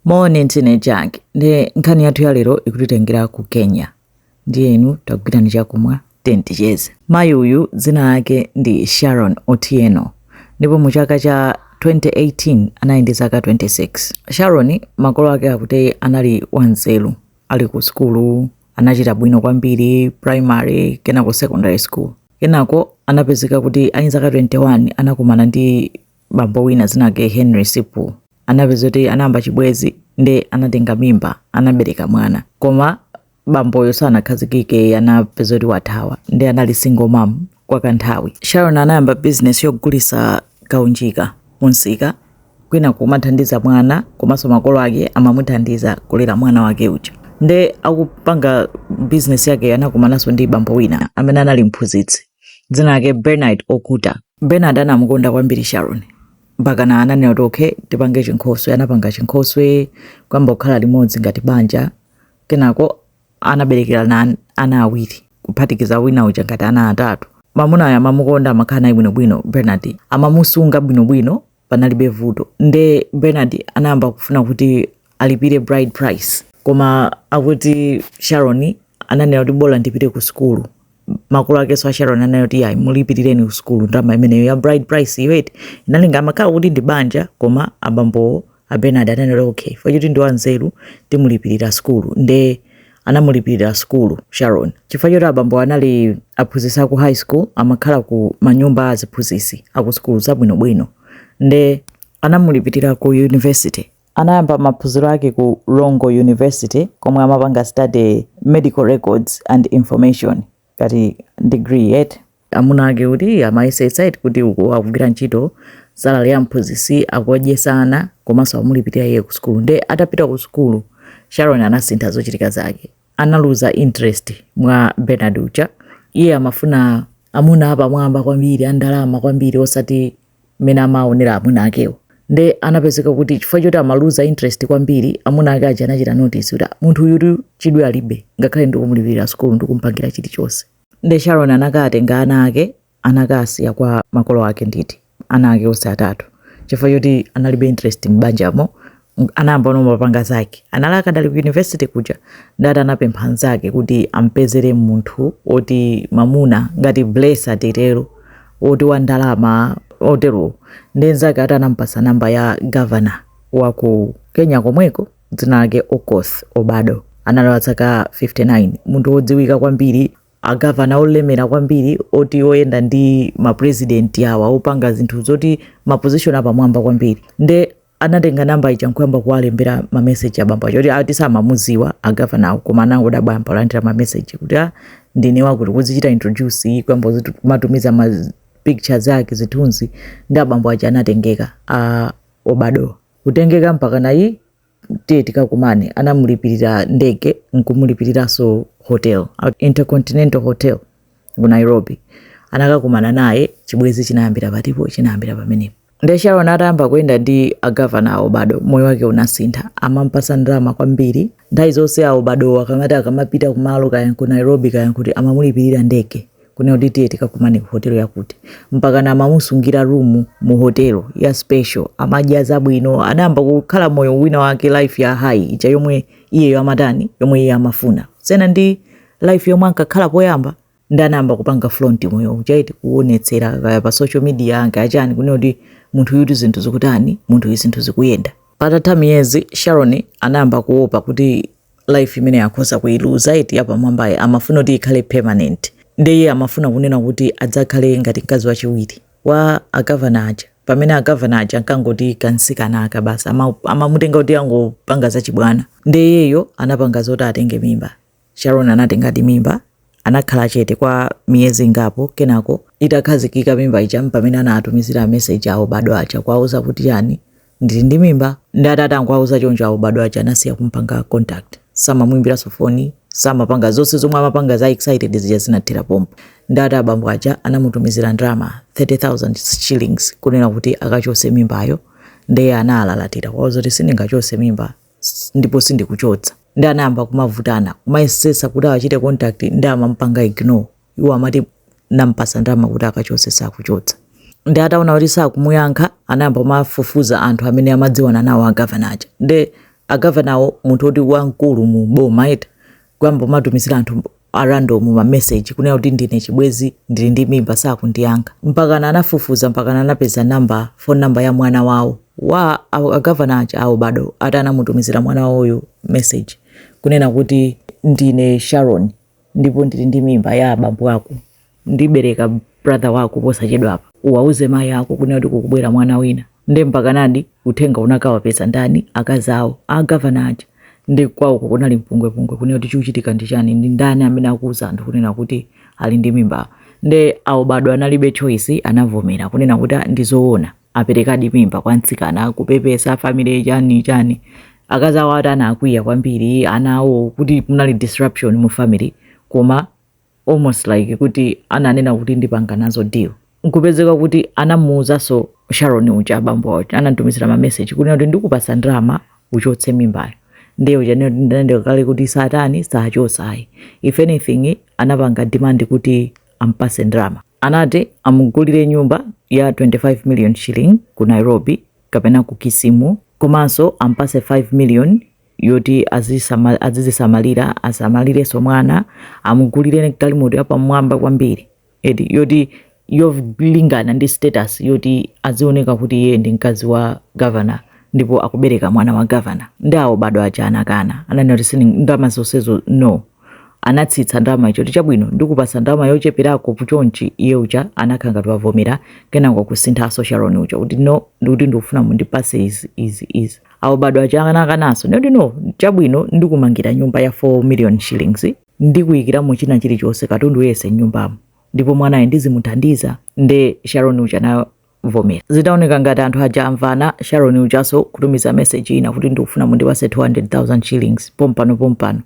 moni ndine jack ndi nkhani yathu ya lero ikutitengera ku kenya ndiye inu tagwirani chakumwa timacheze mayi uyu dzina lake ndi sharon otieno ndipo mu chaka cha 2018 anali ndi zaka 26 sharon makolo ake akuti anali wanzeru ali ku sukulu anachita bwino kwambiri primary kenako secondary school kenako anapezeka kuti ali zaka 21 anakumana ndi bambo wina dzina lake henry sipu anapezeka kuti anayamba chibwezi nde anatenga mimba anabereka mwana koma bamboyo sanakhazikike anapezeka kuti wathawa nde anali single mom kwa kanthawi sharon anayamba business yogulisa kaunjika mumsika kwina kumathandiza mwana komanso makolo ake amamuthandiza kulera mwana wake uja nde akupanga business yake anakumananso ndi bambo wina amene anali mphunzitsi dzina lake bernard okuta bernard anamukonda kwambiri sharon mpakana ananena kuti okay tipange chinkhoswe anapanga chinkhoswe kuyamba kukhala limodzi ngati banja kenako anaberekerana ana awiri kuphatikiza wina uja ngati ana atatu mamunayo amamukonda amakhala naye bwinobwino bernard amamusunga bwinobwino panalibe vuto nde Bernard anayamba kufuna kuti alipire bride price koma akuti Sharon ananena kuti bola ndipite ku sukulu makolo akenso a Sharon ananena kuti ayi mulipirireni ku sukulu ndalama imeneyo ya bride price iyo eti inalinga amakhala kuti ndi banja koma abambowo a Bernard ananena kuti okay chifukwa choti ndi wanzeru timulipirira sukulu nde anamulipirira sukulu Sharon chifukwa choti abambo anali aphunzitsi aku high school amakhala ku manyumba a aziphunzitsi aku sukulu zabwinobwino nde anamulipirira ku university anayamba maphunziro ake ku Rongo University komwe amapanga study medical records and information ngati degree eti amuna ake kuti amayesetsa eti kuti uku akugwira ntchito salary ya mphunzitsi akuwadyetsa ana komanso amulipirira iye ku sukulu nde atapita ku sukulu sharon anasintha zochitika zake analuza interest mwa bernard uja iye amafuna amuna apamwamba kwambiri andalama kwambiri osati mmene amaonera amuna akewo nde anapezeka kuti chifukwa choti amaluza interest kwambiri amuna ake aja anachita notice kuti "Ah, munthu uyu tu chidwi alibe ngakhale ndikumulipirira sukulu ndikumpangira chilichonse nde sharon anakatenga ana ake anakasiya kwa makolo ake nde ati ana ake onse atatu chifukwa choti analibe interest m'banjamo anayambano kumapanga zake anali akadali ku university kuja nde ati anapempha nzake kuti ampezere munthu woti mamuna ngati blesa titero oti wa ndalama oterowo nde nzake ati anampasa namba ya governor wa ku kenya komweko dzina lake okoth obado anali wa zaka 59 munthu wodziwika kwambiri agavana olemera kwambiri oti oyenda ndi mapurezidenti awa opanga zinthu zoti mapozishoni apamwamba kwambiri nde anatenga namba ija eti nkuyamba kuwalembera ma message abambo aja oti ati samamuziwa agavanawo koma anangodabwa alandira ma message kuti ah ndine wakuti kuzichita introduce eti kuyamba kuzitu- kumatumiza ma z- pictures zake zithunzi nde abambo aja anatengeka a obado kutengeka mpakana eti tiye tikakumane anamulipirira ndege nkumulipiriranso hotel a- intercontinental hotel ku nairobi anakakumana naye chibwezi chinayambira pati po- chinayambira pamenepo Nde Sharon atayamba kuyenda ndi agavana a Obado moyo wake unasintha, amampasa ndalama kwambiri. Nthawi zonse awo badowo akamati akamapita kumalo kaya ku Nairobi kaya kuti amamulipirira ndege kunena kuti tiye tikakumane ku hotelo yakuti mpakana amamusungira rumu mu hotelo ya special amadya zabwino anayamba kukhala moyo wina wake life ya high ija yomwe iyeyo amatani yomwe iye amafuna kusiyana ndi life yomwe ankakhala poyamba nde anayamba kupanga flaunt moyo uja eti kuonetsera kaya pa social media kwa anzake chani kunena kuti munthuyu eti zinthu zikutani munthu uyu zinthu zikuyenda patatha miyezi sharon anayamba kuopa kuti life imeneyi akhoza kuiluza eti yapamwambayi amafuna kuti ikhale permanent ndiye amafuna kunena kuti adzakhale ngati mkazi wachiwiri wa agavana aja pamene agavana aja ankangoti kansikana aka basi ama- amamutenga kuti angopanga zachibwana nde iyeyo anapanga zoti atenge mimba Sharon anatengadi mimba anakhala chete kwa miyezi ingapo kenako itakhazikika mimba ija mpamene anatumizira meseji a Obado aja kuwauza kuti iyayi ndili ndi mimba nde atangowauza choncho a Obado aja anasiya kumpanga contact samamwimbiranso foni samapanga zonse zomwe amapanga za excited zija zinathera pompo nde ati abambo aja anamutumizira ndalama 30000 shillings kunena kuti akachose mimbayo nde iye analalatira kuwauza kuti sindingachose mimba ndipo sindikuchotsa nde anayamba kumavutana kumayesesa kuti awachite contact nde amampanga ignore iwo amati nampasa ndalama kuti akachotse sakuchotsa nde ataona kuti sakumuyankha anayamba kumafufuza anthu amene amadziwana nawo agavana aja nde agavanawo munthu oti wamkulu mu boma eti kuyamba kumatumizira anthu a random ma message kunena kuti ndine chibwezi ndili ndi mimba sakundiyankha mpakana anafufuza mpakana anapeza namba phone namba ya mwana wawo wa agavana aja a Obado ati anamutumizira mwana wawoyo message kunena kuti ndine sharon ndipo ndili ndi mimba ya abambo ako ndibereka brother wako posachedwapa uwauze mayi ako kunena kuti kukubwera mwana wina nde mpakanadi uthenga unakawapeza ndani akazi awo agavana aja nde kwawoko kunali mpungwepungwe kunena kuti chikuchitika ndi chani ndi ndani amene akuuza anthu kunena kuti ali ndi mimba nde a Obado analibe choice anavomera kunena kuti "Ah, ndi zoona aperekadi mimba kwa mtsikana kupepesa family chani chani akazi awo ati anakwiya kwambiri ana awo kuti kunali disruption mu family koma almost like kuti ananena kuti ndipanga nazo deal nkupezeka kuti anawauzanso sharon uja abambo awo anatumizira mameseji kunena kuti ndikupasa ndalama uchotse mimbayo ndiye uja anenano kale kuti satani sachotsa ayi if anything anapanga demand kuti ampase ndalama anati amugulire nyumba ya 25 million shilling ku nairobi kapena ku kisumu komanso ampase 5 million yoti azisama- azizisamalira asamalirenso mwana amugulire galimoto yapamwamba kwambiri eti yoti yolingana ndi status yoti azioneka kuti iye ndi mkazi wa gavana ndipo akubereka mwana wa gavana nde a obado aja anakana ananena kuti sini ndalama zonsezo no anatsitsa ndalama zija kuti chabwino ndikupasa ndalama yocheperako chonchi iye uja anakhala ngati wavomera kenako kusinthaso sharon uja kuti no ndikuti ndikufuna mundipase izi izi izi a obado aja anakananso ndikuti no chabwino ndikumangira nyumba ya 4 million shillings ndikuyikiramo china chilichonse katundu yese mnyumbamo ndipo mwanayo ndizimuthandiza nde sharon uja anavomera zinaoneka ngati anthu aja amvana sharon ujaso kutumiza meseji ina kuti ndikufuna mundipase 200000 shillings pompano pompano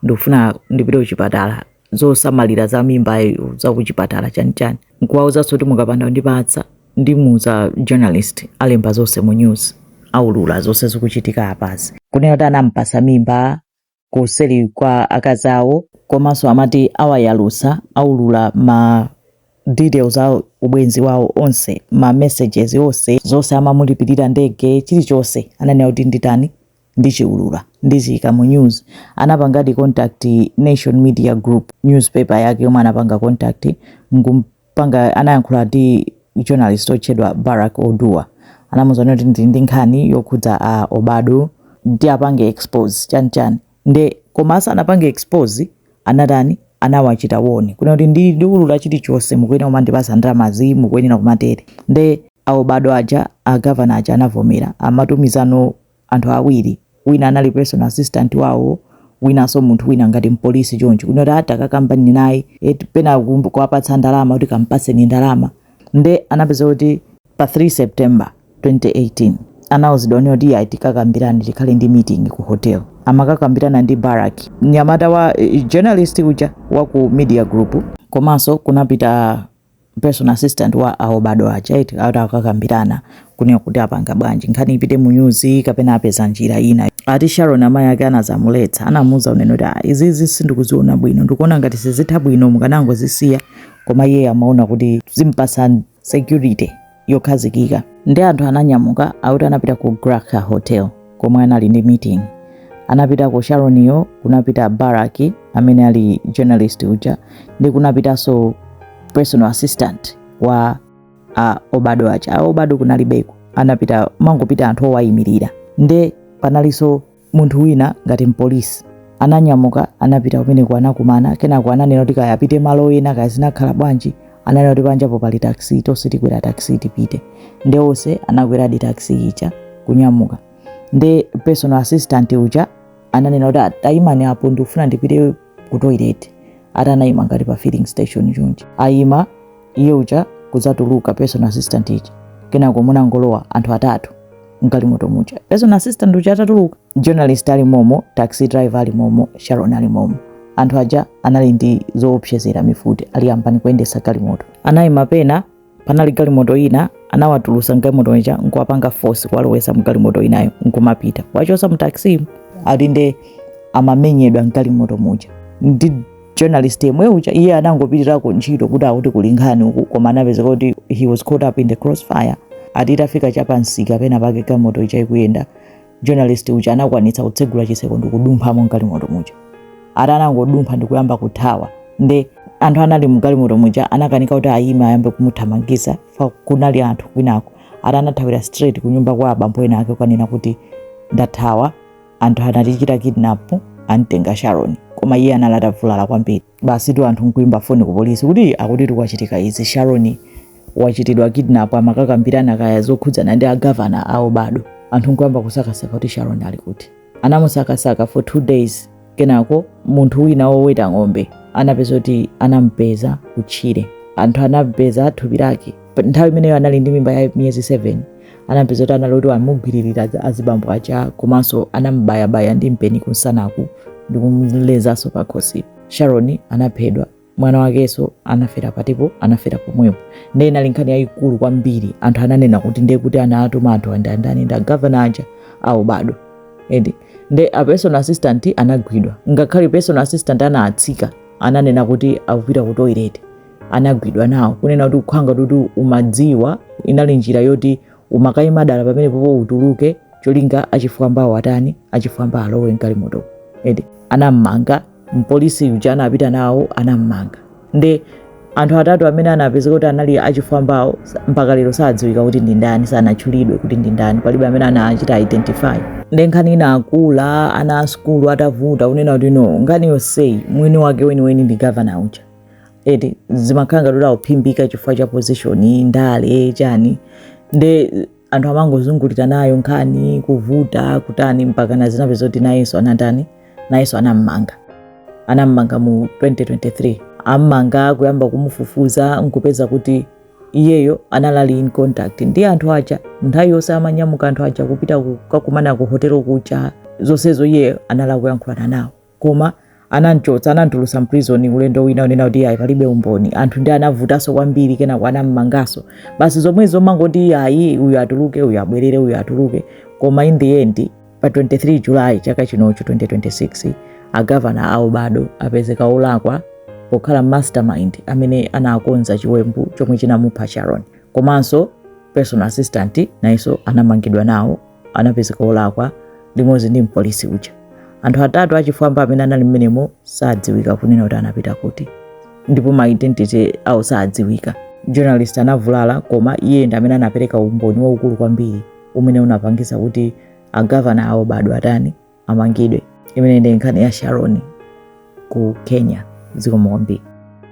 ndikufuna ndipite kuchipatala zosamalira za mimbayo za kuchipatala chanichani nkuwauzanso kuti mukapanda kundipatsa ndimuuza journalist alemba zonse mu news aulula zonse zikuchitika apazi kunena kuti anampasa mimba kuseli kwa akazi awo komanso amati awayalusa aulula ma details a ubwenzi wawo onse ma messages onse zonse amamulipirira ndege chilichonse ananena kuti nditani ndichiulula ndichiika mu news anapangadi contact nation media group newspaper yake yomwe anapanga contact nkumpanga anayankhula ndi journalist otchedwa barak oduor anamuuzano kuti ndili ndi nkhani yokhudza a obado nde apange expose chanichani nde koma asanapange expose anatani anawachita warn kunena kuti ndi ndiulula chilichonse mukuyenera kumandipasa ndalamazi mukuyenera kumatere nde a obado aja agavana aja anavomera amatumizano anthu awiri wina anali personal assistant wawo winanso munthu wina ngati mpolisi chonchi kunena kuti ati akakambirane naye eti pena kumbu- kuwapatsa ndalama kuti kampatseni ndalama nde anapeza kuti pa 3 september 2018 anauzidwano kuti ayi tikakambirane tikhale ndi meeting ku hotel amakakambirana ndi barak mnyamata wa eh, journalist uja wa ku media group komanso kunapita personal assistant wa a obado aja eti ati akakambirane kunena kuti apanga bwanji nkhani ipite mu news kapena apeza njira ina ati Sharon amayi ake anazamuletsa anamuuza kunena kuti ah, izizi sindikuziona bwino ndikuona ngati sizitha bwino mukanangozisiya koma iye amaona kuti zimpasa security yokhazikika ndi anthu ananyamuka akuti anapita ku Graca Hotel komwe anali ndi meeting anapitako Sharon yo kunapita Barrack amene ali journalist uja ndi kunapitanso personal assistant wa a Obado aja a Obado kunalibeko anapita mangopita anthu owayimirira nde panalinso munthu wina ngati mpolisi ananyamuka anapita kumeneko anakumana kenako ananena kuti kaya apite malo ena kaya zinakhala bwanji ananena kuti panjapo pali taxi tonse tikwera taxi tipite nde onse anakweradi taxi ija kunyamuka nde personal assistant uja ananena kuti tayimani apo ndikufuna ndipite ku toilet ati anayima ngati pa filling station chonchi ayima iye uja kudzatuluka personal assistant uja kenako munangolowa anthu atatu mgalimoto muja personal assistant uja atatuluka journalist ali momo taxi driver ali momo sharon ali momo anthu aja anali ndi zoopsezera mifuti ali yambani kuyendesa galimoto anayima pena panali galimoto ina anawatulusa mgalimoto muja nkuwapanga force kuwalowesa mgalimoto inayo nkumapita awachosa mu taxi ati nde amamenyedwa mgalimoto muja ndi journalist yemwe uja iye anangopitirako ntchito kuti akuti kuli nkhani uku koma anapezeka kuti he was caught up in the crossfire ati itafika chapansika pena pake galimoto ija ikuyenda journalist uja anakwanitsa kutsegula chiseko ndikudumphamo mgalimoto muja ati anangodumpha ndikuyamba kuthawa nde anthu anali mgalimoto muja anakanika kuti ayime ayambe kumuthamangisa fa kunali anthu kwinako ati anathawira straight kunyumba kwa abambo ena ake kukanena kuti ndathawa anthu anatichita kidnap amtenga Sharon koma iye anali atavulala kwambiri basitu anthu nkuimba foni ku polisi kuti akutitu kwachitika izi sharon wachitidwa kidnap amakakambirana kaya zokhudzana ndi agavana a Obado anthu nkuyamba kusakasaka kuti sharon ali kuti anamusakasaka for two days kenako munthu wina woweta ng'ombe anapeza kuti anampeza kutchire anthu anapeza thupi lake nthawi imeneyo anali ndi mimba ya miyezi 7 anapeza kuti anali kuti amugwiririra azibambo aja komanso anamubayabaya ndi mpeni kunsanaku ndi kumlezanso pakhosi sharon anaphedwa mwana wakenso anafera patipo anafera pomwepo ndiye inali nkhani yayikulu kwambiri anthu ananena kuti ndiye kuti anatuma anthuwa ndi ndani nda gavana aja a Obado edi nde a personal assistant anagwidwa ngakhale personal assistant anatsika ananena kuti akupita ku toilet anagwidwa nawo kunena kuti ukhala ngati umadziwa inali njira yoti umakayima dala pamenepopo utuluke cholinga achifwambawo atani achifwamba alowe mgalimoto edi anammanga mpolisi uja anapita nawo anammanga nde anthu atatu amene anapezeka kuti anali achifwambawo sa- mpaka lero sadziwika kuti ndi ndani sanatchulidwe kuti ndi ndani palibe amene anachita identify nde nkhani inakula ana a sukulu atavuta kunena kuti no nkhani yonseyi mwini wake weniweni ndi gavana uja eti zimakhala ngati kuti akuphimbika chifukwa cha position ndale chani nde anthu amangozungulira nayo nkhani kuvuta kutani mpaka anadzapeza zoti nayenso anatani nayenso anammanga anammanga mu 2023 ammanga kuyamba kumufufuza nkupeza kuti iyeyo anali in contact ndi anthu aja nthawi yonse amanyamuka anthu aja kupita kukakumana ku hotelo kuja zonsezo iyeyo anali akuyankhulana nawo koma anamchotsa anamtulusa mprison ulendo wina unena kuti ayi palibe umboni anthu ndi anavutaso kwambiri kenako anammangaso basi zomwezo amangoti ayi uyu atuluke uyu abwerere uyu atuluke koma in the end pa 23 july chaka chinocho 2026 agavana a Obado apezeka olakwa pokhala mastermind amene anakonza chiwembu chomwe chinamupha sharon komanso personal assistant nayenso anamangidwa nawo anapezeka olakwa limodzi ndi mpolisi uja. Anthu atatu achifwamba amene anali mmenemo sadziwika kunena kuti anapita kuti, ndipo ma identity awo sadziwika. Journalist anavulala, koma iye ndi amene anapereka umboni waukulu kwambiri umene unapangisa kuti agavana a Obado atani amangidwe. Imeneyi ndi nkhani ya Sharon ku Kenya. Zikomo kwambiri.